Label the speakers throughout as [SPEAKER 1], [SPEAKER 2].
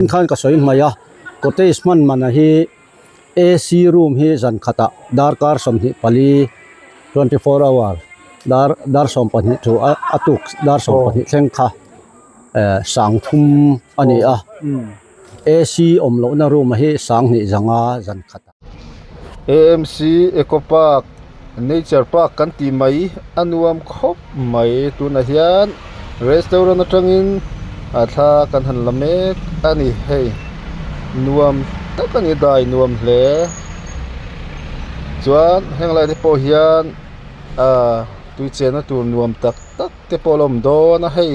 [SPEAKER 1] Tin khan ka sawi hmai a, cottage hman manah hi AC room hi zan khatah darkar sawmhnih pali, twenty four hour, dar dar sawm pahnih thu a tuk dar sawm pahnih thleng kha eh sang thum a ni a. AC awm lohna room hi sang hnih zanga zan khat a. amc
[SPEAKER 2] eco park nature park kan tih mai a nuam khawp mai tunah hian restaurant atangin a thla kan han la mek a ni hei nuam tak a ni dai nuam hle chuan heng lai te pawh hian ahh tui chenna tur nuam tak tak te pawh a la awm dawn a hei.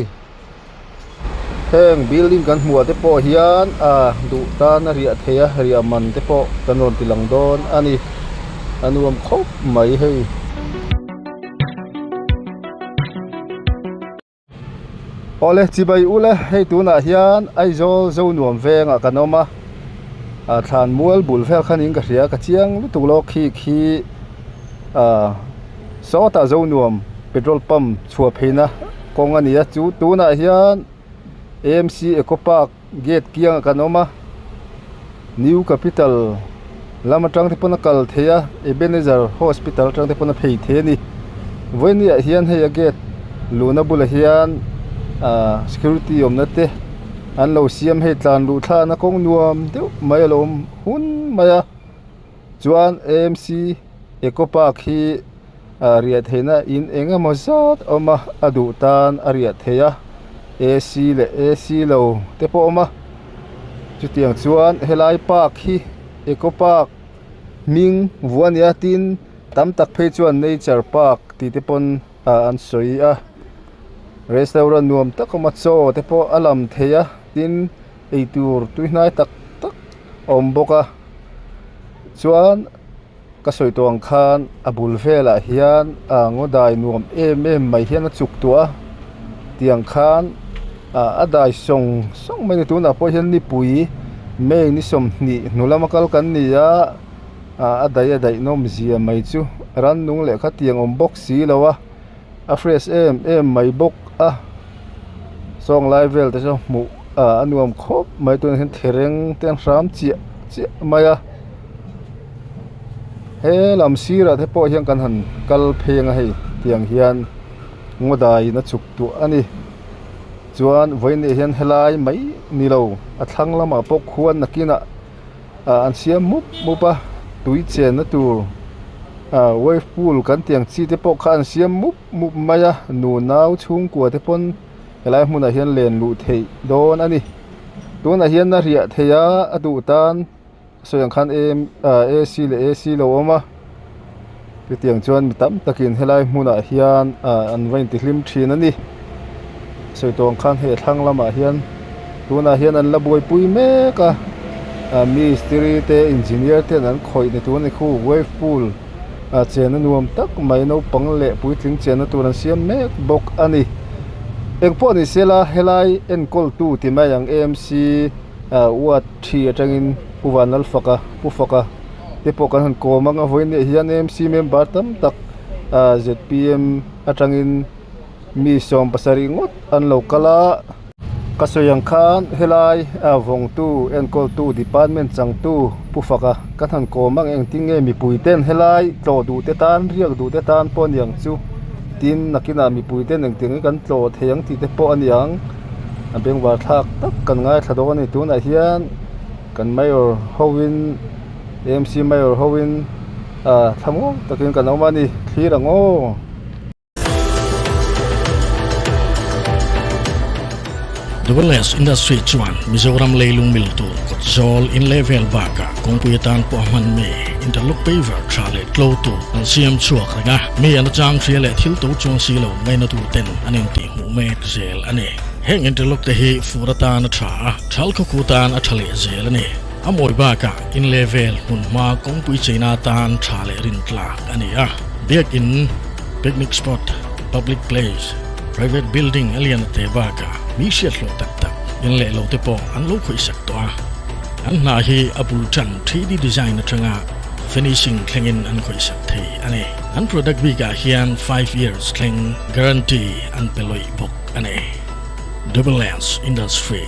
[SPEAKER 2] Heng building kan hmuh ah te pawh hian ahh duh tan a riah theih a riah man te pawh kan rawn ti lang dawn a ni a nuam khawp mai hei awle chibai ula hei tunah hian Aizawl zo nuam veng ah kan awm a ahh thlan mual bul vel khan in ka hria ka chiang lutuk lawk khi khi ahh sawtah zo nuam petrol pump -- Chhuah pheina kawng a nia chu tunah hian AMC Eco Park gate kiangah kan awm a New Capital lam atang te pawn a kal thei a Ebenezer Hospital atang te pawn a phei thei a ni vawiiniah hian hei a gate luhna bulah hian ah security awmna te an lo siam hei tlan luh thlana kawng nuam deuh mai a lo awm hun mai a. Chuan amc eco park hi ah riah theihna in eng emaw zat awm a a duh tan a riah theih a ac leh ac lo te pawh a awm a chutiang chuan helai park hi eco park hming vua nia tin tam tak phei chuan nature park tih te pawn ah an sawi a restaurant nuam tak awm a chaw te pawh a lam thei a tin-- eitur tui hnai tak tak a awm bawk a chuan ka sawi tawh ang khan a bul velah hian ah ngaw dai nuam em em mai hian a chuk tawh a tiang khan ah a dai sawng sawng mai ni tunah pawh hian nipui may ni sawmhnih hnu lama kal kan ni a ah a dai a daih nawm zia mai chu rannung leh khatiang awm bawk si lo a. A fresh em em mai bawk a sawng lai vel te chu hmuh ah a nuam khawp mai tunah hian thereng te an hram chiah chiah mai a he lam sir ah te pawh hian kan han kal pheng a hei tiang hian ngaw dai in a chhuk duah a ni chuan vawiin leh hian helai mai ni lo a thlang lamah pawh khuan nakin ah-- ah an siam mup mup a tui chenna tur ah wave pool kan tih ang chi te pawh kha an siam mup mup mai a nu nau chhungkua te pawn helai hmun ah hian len luh theih dawn a ni tunah hian a hriah theih a a duh tan sawi ang khan em ah ac leh ac lo awm a. Chutiang chuan mi tam takin helai hmunah hian an va intihlim thin a ni. Sawiṭawng khan hei a thlang lamah hian tunah hian an la buaipui mek a, mistiri te engineer te an khawih ni tur a ni. Khu wave pool chenna nuam tak mai naupang leh puitling chenna tur an siam mek bawk a ni. Eng pawh a ni sela helai enkawltu ti mai ang emc ward ṭhi aṭangin Pu Vanlalfaka, Pu Faka, te pawh kan han kawm ang a vawiinah hian mc member tam tak ahh zpm atangin mi sawm pasarih ngawt an lo kal a ka sawi ang khan helai vawngtu enkawl tu department changtu pu faka ka han kawm ang engtin nge mipui ten helai tlawh duh te tan riak duh te tan pawh a niang chu tin nakinah mipui ten engtin nge kan tlawh thei ang tih te pawh a niang a beng var thlak tak kan ngaithla dawn a ni tunah hian-- Kan Mayor hoin, AMC Mayor hoin thla ngawng takin kan awm a ni. Thlir ang aw.
[SPEAKER 3] The Wellness Industry chuan Mizoram leilung mil tur kawt zawl in leh vel bakah kawngpui atan pawh a hman mi interlock paver tha leh tlo tur an siam chhuak reng a, mi an achang hria leh thil to chuang si lo ngaina turten an intih hmuh mek zel a ni. Heng interlock te hi fur atan a tha a. Thal khawkhuh tan a tha leh zel a ni. A mawi bakah inleh vel hmunhma kawngpui cheina tan tha leh rin tlak a ni a. Biakin, picnic spot, public place, private building a lian a teh bakah mi hriathlawh tak tak inleh lo te pawh an lo khawihsak tawh a. An hna hi a bul tan three D design atanga finishing thlengin an khawihsak thei a ni. An product bikah hian five years thleng guarantee an pe lawih bawk a ni. Develance Industry.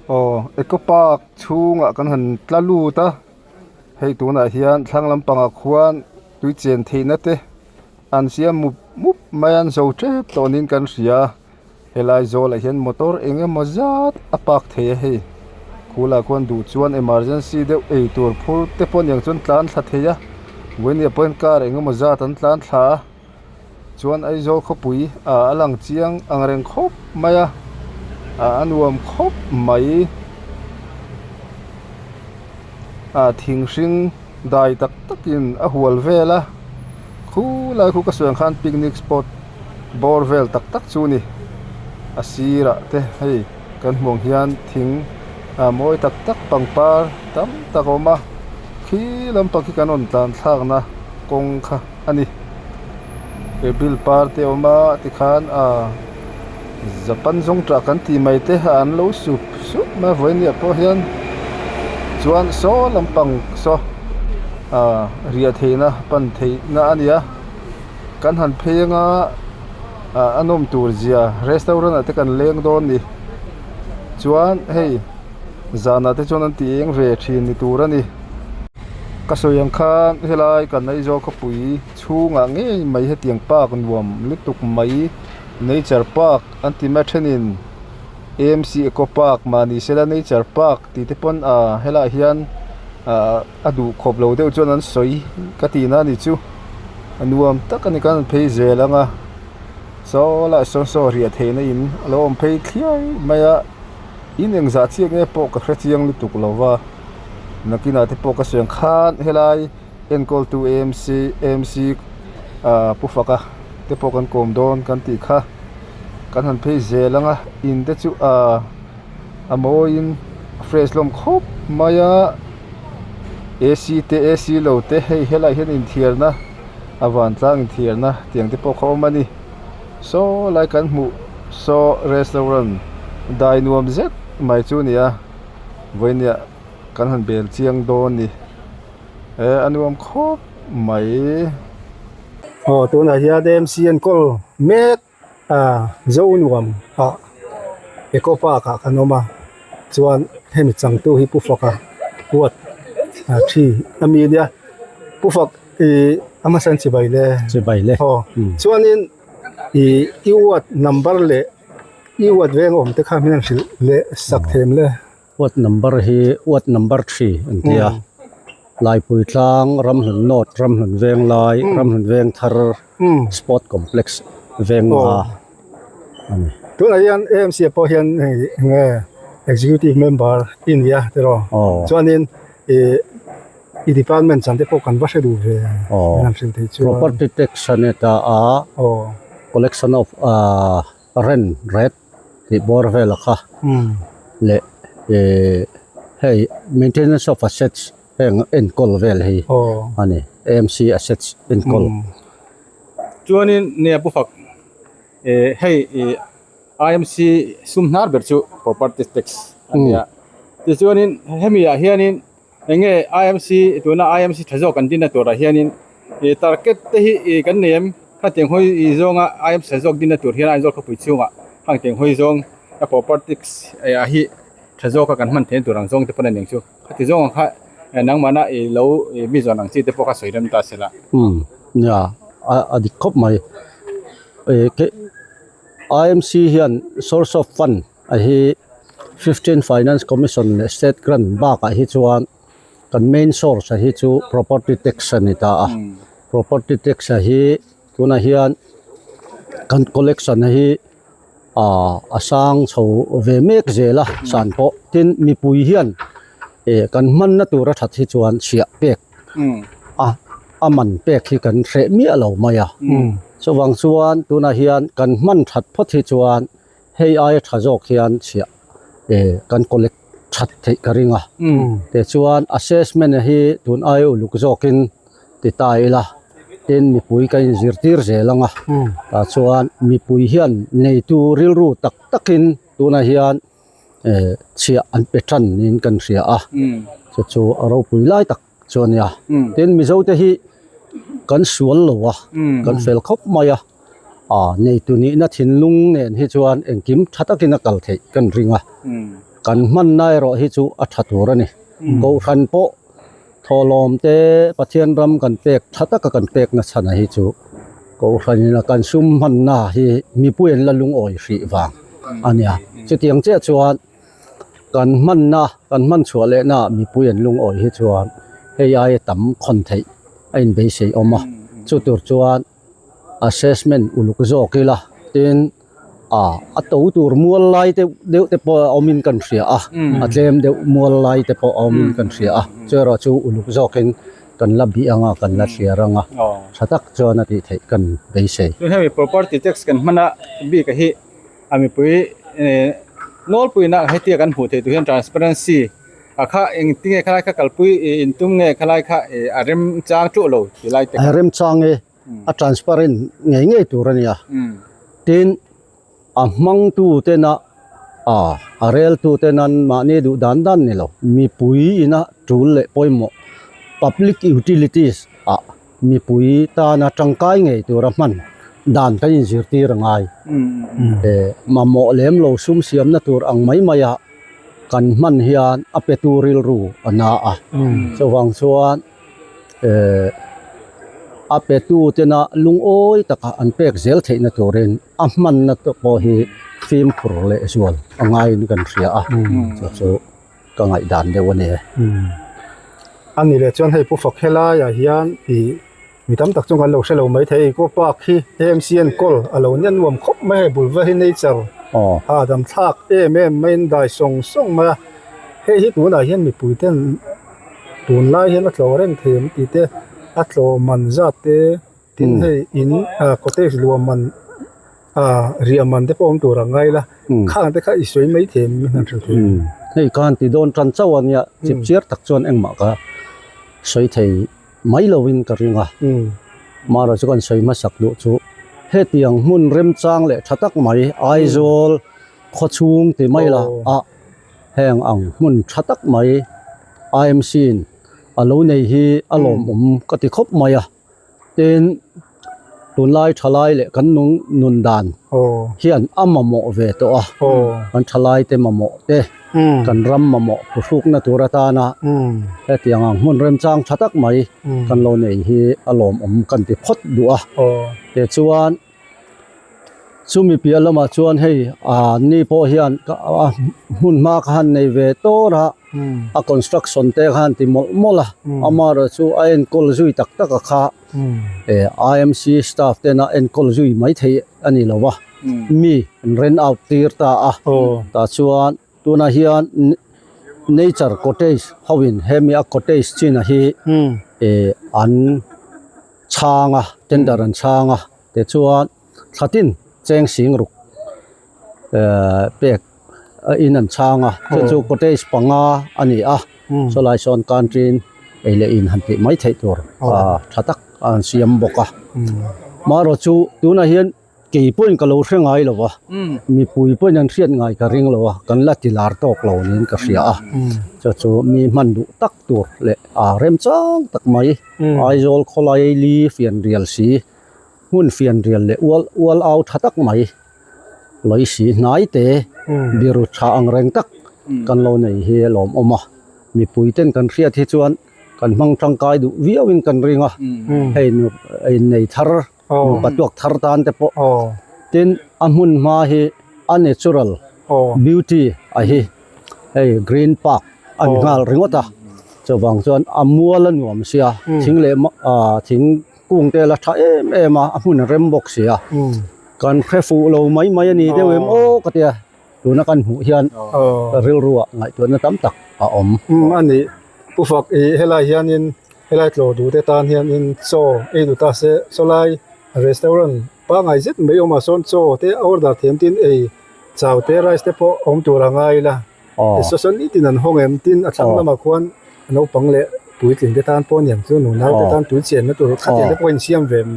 [SPEAKER 2] Aw eco park chhungah kan han tla lut a, hei tunah hian thlang lampangah khuan tui chen theihna te an siam mup mup mai an zo tep tawh niin kan hria. Helai zawlah hian motor eng emaw zat a park thei a hei. Khula khuan duh chuan emergency deuh ei tur phur te pawh aniang chuan tlan thla thei a. Vawinia pawhin car eng emaw zat an tlan thla a, chuan Aizawl khawpui ah a lang chiang ang reng khawp mai a, ah a nuam khawp mai a, thing hring-- Dai tak takin a hual vel a, khu lai khu ka suan khan picnic spot bawr vel tak tak chu a ni. A sirah te hei kan hmuh ang hian thing ah mawi tak tak pangpar tam tak a awm a, khi lampang khi kan rawn tlanthlakna kawng kha. a ni. He bill par te awm a ti khan aah Japan zawngṭah kan tih mai te a an lo sup sup mai vawinia pawh hian chuan saw lampang saw aah riah theihna pan theihna a ni a. Kan han pheng a aah a nawm tur zia restaurant ah te kan leng dawn ni chuan hei-- Zanah te chuan an ti eng ve ṭhin ni tur a ni. Ka sawi ang khan helai kan Aizawl khawpui chhungah ngei mai hetiang park nuam lutuk mai nature park an ti mai a ṭhenin amc eco park mahni sela nature park tih te pawn a helaiah hian ahh a duh khawp lo deuh chuan an sawi ka tih na ni chu a nuam tak a ni kan phei zel ang a saw lah sawn saw riah theihna in a lo awm phei thliau mai a. In engzah chiah nge pawh ka hrechiang lutuk lo va, Nakina te pawh ka siam khan helai enkawltu amc, AMC, Pu Faka te pawh kan kawm dawn kan tih kha kan han phei zel ang a, in te chu a mawiin a fresh hlawm khawp mai a, AC te AC lo te hei helaiah hian inthiarna a vantlang inthiarna tiang te pawh kha awm a ni. saw lai kan hmuh saw restaurant dai nuam zet mai chu nia vawinia kan han bel chiang dawn ni e a nuam khawp mai aw tunah hian mc an call mek a zo nuam a eco park ah kan awm a chuan hemi changtu hi pu faka kuat a thi a mi nia pu fak-- Ih hmasa an chibai le. Chibai le. Haw. Chuanin ih i ward number leh i ward veng awm te kha hmel hrilh leh sak thêm le. Ward number
[SPEAKER 1] hi ward number three an ti a. Laipuitlang Ramhlun North Ramhlun Venglai Ramhlun Vengthar Sport Complex veng a a ni. Tunah hian
[SPEAKER 2] amc ah pawh hian hei eng nge executive member i ni a tirh aw. Aw. Chuanin ih. property tax a ni
[SPEAKER 1] ta a collection of rent ret tih bawr vel a kha leh ihh hei maintenance of assets heng enkawl vel hi a ni amc assets enkawl
[SPEAKER 4] chuanin nge pu fak ihh hei ihh amc sum hnar ber chu property tax a ni a tichuanin hemi ah hianin-- Eng nge IMC tuna IMC tha zawk kan dinna turah hianin i target te hi i kan nei em? Khang Teng Hawi i zawnga IMC tha zawk dinna tur hian Aizawl khawpui chhungah Khang Teng Hawi zawng a properties a hi tha zawka kan hman theih na tur ang zawng te pawn a ning chu khati zawng ang kha nangmahna i lo mizawn ang chi te pawh kha sawi rem ta sela. Umm nia
[SPEAKER 1] a dik khawp mai. IMC hian source of fund. A hi fifteen finance commission leh state grant bakah hi chuan kan main source a hi chu property tax a ni ta a property tax a hi tunah hian kan collection a hi ah a sang chho ve mek zel a san pawh tin mipui hian eh kan hmanna tura that hi chuan chhiah pek a a man pek hi kan hreh miah lo mai a chuvang chuan tunah hian kan hman that phawt hi chuan. Hei aia tha zawk hian chhiah eh kan collect that theih ka ring a, tichuan assessment hi tun aia uluk zawkin ti ta ila tin mipui ka inzir tir zel anga tah chuan mipui hian neitu rilru tak takin tuna hian eh chhiah an pe than niin kan hria a chu chu a ropui lai tak. chu ania tin mizo te hi kan sual lo a kan fel khawp mai a ah neitu nih na thinlung nen hi chuan engkim tha takin a kal theih ka ring a kan hman na erawh hi chu a tha tur a ni kohhran pawh thawhlawm te pathian ram kan pek tha taka kan pek na chhan a hi chu kohhran in a kan sum hman na hi mipui an la lungawi hrih vang ania chutiang chiah chuan Kan hmanna, kan hman chhuah lehna mipui an lungawi hi chuan hei aia tam khawn theih a inbeihsei awm a, chu tur chuan assessment uluk zawk ila tin ah a to tur mual lai te deuh te pawh awmin kan hria a, a tlem deuh mual lai te pawh awmin kan hria a, chu erawh chu uluk zawkin kan la bih anga kan la hliar anga
[SPEAKER 4] tha tak chuan a tih theih kan beisei. Hemi property tax kan hmana bik a hi. A mipui eeh nawlpui na hetia kan hmuh theih tur hian transparency a kha eng ti nge kha lai kha kalpui ih in tum nge kha lai kha ih a rem chang ṭuh lo ti lai te kha. A
[SPEAKER 1] rem chang e, a transparent ngei ngei tur a nia. Tin, a hmangtu tena aah a reltu tena mahni duh dan dan ni lo. Mipui ina ṭul leh pawimawh, public utilities, ah mipui tana tangkai ngei tura hman dan ka in zirtir a ngai mamawh lem lo sum siam na tur ang mai mai a kan hman hian a petu rilru a na a chuvang chuan a petu te na lungawi taka an pek zel theih na turin a hman na te pawh hi fimkhur leh
[SPEAKER 2] zual a ngai in kan hria a chu chu. Ka ngaihdan deuh a ni e. A ni leh chuan hei pu fak helaiah hian ih mi tam tak chu kan lo hre lo mai thei eco park hi mcn call a lo nian nuam khawp mai hei bul va hi nature a adam thlak em em mai in dai sawng sawng mai a hei hi tunah hian mipui ten tunlai hian a tlawh reng thei ang tih te a tlawh man zat te. tin hei in ah cottage luam man ah riah man te pawh awm tur ang ngai la khang te kha i sawi mai thei mai hman tha thin
[SPEAKER 1] hei khan ti dawn tan chauh a nia chip chiar tak chuan engmah kha sawi thei mai lo in ka ring a mahra chu kan sawi hmasak duh chu hetiang hmun remchang leh tha tak mai Aizawl khaw chhung ti mai lah ah heng ang hmun tha tak mai IMC in a lo nei hi a lawmawm ka ti khawp mai a. Tin, tunlai thalai leh kan nung nun dan hian a mamawh ve tawh a, kan thalai te mamawh te, kan ram mamawh pu hrukna tur atana hetiang ang hmun remchang tha tak mai kan lo nei hi a lawmawm kan ti phawt duh a. Tichuan. Chumi piah lamah chuan hei ni pawh hian ka a hmun hma kha han nei ve tawr a, a construction te kha han ti mawlh mawlh a, amaherawhchu chu a enkawl zui tak tak a kha IMC staff tena enkawl zui mai thei a ni lo va, mi an rent out tir ta a, tah chuan. Tunah hian nature cottage ho in hemi a cottage chinah hi eh an chhang a tender an chhang a tichuan thlatin cheng sing ruk eh pek a in an chhang a chu chu cottage panga a ni a saw lai sawn kan rin ei leh in han tih mai theih tur tha tak a han siam bawk a maherawhchu tunah hian-- Kei pawhin ka lo hre ngai lova, mipui pawhin an hriat ngai ka ring lova, kan la ti lar tawk lo niin ka hria a. Chu chu mi hman duh tak tur leh remchang tak mai Aizawl khawlaili fianrial si hmun fianrial leh ual ual au tha tak mai lawih si hnai te biru tha ang reng tak kan lo nei hi a lawm awm a. Mipui ten kan hriat hi chuan kan hmang tangkai duh viau in kan ring a hei nu hei nei thar. nupa tuak thar tan te pawh tin a hmun hma hi a natural beauty a hi hei green park a ni nghal ringawt a chuvang chuan a mual a nuam
[SPEAKER 2] sia thing leh ah thingkung te la tha em em a a hmun rem bawk sia kan hre fuh lo mai mai a ni deuh em aw ka ti a. tuna kan hmuh hian rilruah ngaihtuahna tam tak a awm a ni pu fak i helai hian in helai tlawh duhte tan hian in chaw ei duhta se chawlai restaurant pangngai zet mai awm ah sawn chaw te a order thiam tin ei chau te rice te pawh awm tur a ngai ila tisaw sawn nitin an hawng em tin a thlang lamah khuan naupang leh
[SPEAKER 1] puitling te tan pawh a ni ang chu nu nau te tan tui chenna tur kha te te pawh a insiam ve em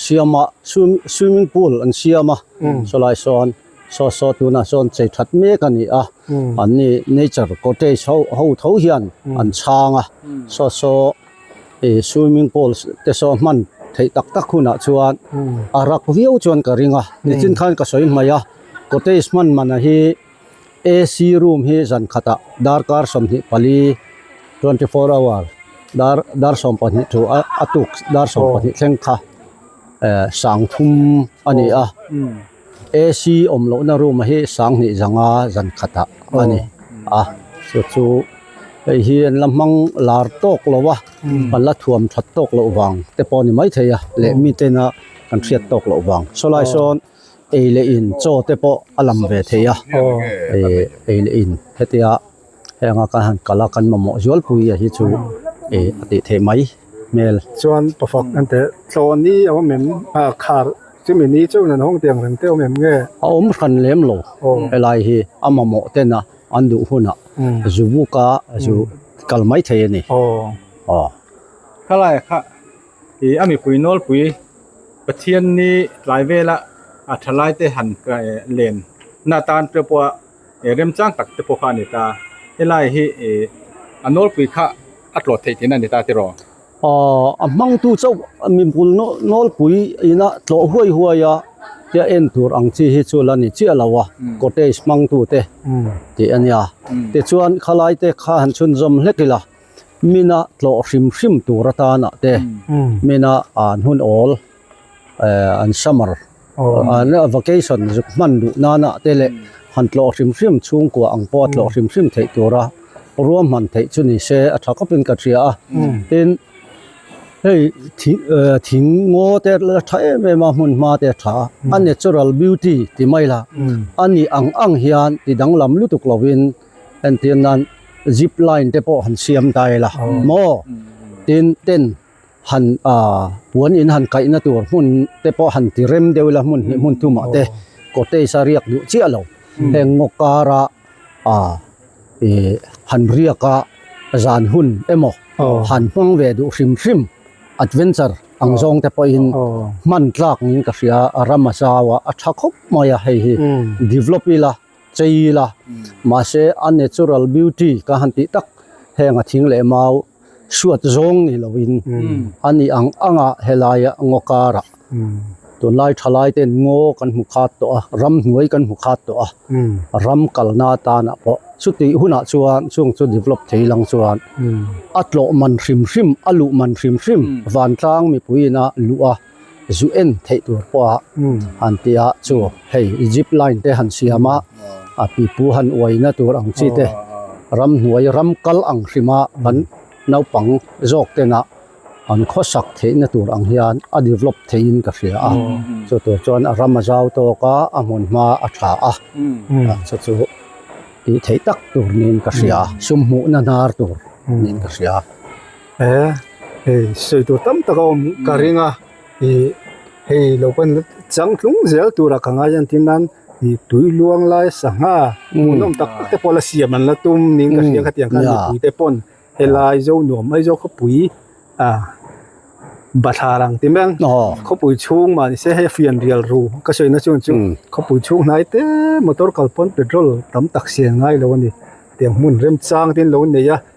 [SPEAKER 1] siam a swimming pool an siam a chawlai sawn. Saw saw tuna sawn chei that mek a ni a, an ni nature cottage ho ho tho hian an chhang a, saw saw ih swimming pool te saw hman theih tak tak hunah chuan a rak viau chuan ka ring a, nichin khan ka sawi hmai a cottage hman manah hi AC room hi zan khatah darkar sawmhnih pali twenty four hour dar dar sawm pahnih thu a tuk dar sawm pahnih thleng kha eh sang thum a ni a. AC awm loh na room hi Sanghnih zanga zan khat ah ani a chu chu hei hi an la hmang lar tawk lo a an la thuam that tawk loh vang te pawh ani mai thei a leh mi ten a kan hriat tawk loh vang saw lai sawn ei leh in chaw te pawh a lam ve thei a ei leh in hetia-- Heng a ka han kalh a kan mamawh zual pui a hi chu e a tih theih mai hmel. Chuan pafak an teh tlawn ni
[SPEAKER 5] awm em a khar chumi ni chauh nan hawng tiang reng te awm
[SPEAKER 1] em nge? A awm hran lem lo helai hi a mamawh tena an duh hunah zu buk a zu kal mai thei a ni aw.
[SPEAKER 5] Khalaia kha i a mipui nawlpui Pathian
[SPEAKER 4] ni tlai vela a thalai te han len na tan ṭeuh pawha. e remchang tak te pawh kha a ni ta, helai hi e
[SPEAKER 1] a nawlpui kha a tlawt theih thin a ni ta tiraw? Aw, a hmangtu chauh mipui nawlpui ina tlawh huai huai a tia en tur ang chi hi chu la ni chiah lo a, cottage hmangtu te tih a nia. Tichuan khalai te kha han chhunzawm hlek ila mina tlawh hrim hrim tur atanah te mina an hun awl. an summer an vacation zuk hman duh nana te leh han tlawh hrim hrim chhungkua ang pawh a tlawh hrim hrim theih tura ruahman theih chu ni se a tha khawpin ka hria a tin hei thing eh thing ngaw te la tha em em a hmun hma te a tha a natural beauty ti mai la a nih ang ang hian ti danglam lutuk lovin entir nan zipline te pawh han siam ta ila maw tin tent -- han puan in han kaihna tur hmun te pawh han ti rem deuh ila hmun hnih hmun tum ah te cottage a riak duh chiah lo heng ngaw kar a ih han riak a zan hun emaw han hmang ve duh hrim hrim adventure ang zawng te pawh in hman tlak niin ka hria ram a zau a a tha khawp mai a hei hi develop ila. Chei ila, mahse a natural beauty ka han tih tak henga thing leh mau hruat zawng ni loin a ni ang anga helaia ngaw karah tunlai thalai ten ngaw kan hmu khat tawh a, ram hnuai kan hmu khat tawh a, ram kalna atana pawh chutih hunah chuan chung chu develop thei lang chuan a tlawh man hrim hrim, a luh man hrim hrim, vantlang mipuiin a luh a. zu en theih tur pawha han ti a chu hei zip line te han siam a a pipu han uai na tur ang chi te ram hnuai ram kal ang hrim a kan naupang zawk te nah an khawsak theih na tur ang hian a develop thei in ka hria a chu tur chuan a ram a zau tawk a a hmun hma a tha a chu chu tih theih tak tur niin ka hria sum hmuh na hnar tur niin ka hria. He hei
[SPEAKER 5] sawi tur tam tak a awm ka ring a ih hei lo pawn chang tlung zel tura ka ngai a tin nan ih tui luang lai sangha hmuh nawm tak tak te pawh la siam an la tum niin ka hria khatiang khan mipui te pawn helai zo nuam mai zo khawpui ah bathlar ang ti meng khawpui chhung mah nise hei a fian rial ru ka sawi na chuan chu khawpui chhung hnai te motor kal pawn petrol tam tak siam ngai lo a ni tiang hmun remchang te an lo nei a.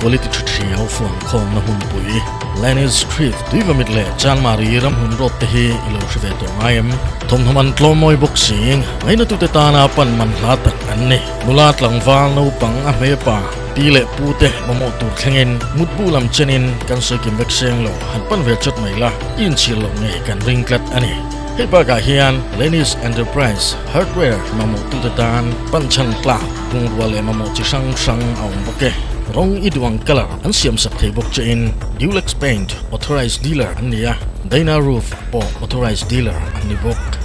[SPEAKER 3] Quality Ṭha Ṭhi ho phone khawmna hmunpui Lenin Street, Tuivamit leh Chanmari ramhlun road te hi i lo hre ve tawh ngai em? Thawmhnam an tlawm mawi bawk si. Ngaihnatute tana panman hla tak an ni. Nula tlangval naupang a hmepa pi leh pute mamawh tur thlengin mutbu lam chenin kan sawi kim vek seng lo, han pan ve chat mai la, inchhir loh ngei kan ring tlat a ni. Hei bakah hian Lenis Enterprise Hardware mamawhtute tan panchhan tlak Bungrua leh mamawh chi hrang hrang a awm bawk e. Rawng i duh ang colour an siam sak thei bawk che in Dulex Paint authorised dealer an ni a, Dana Roof pawh authorised dealer an ni bawk.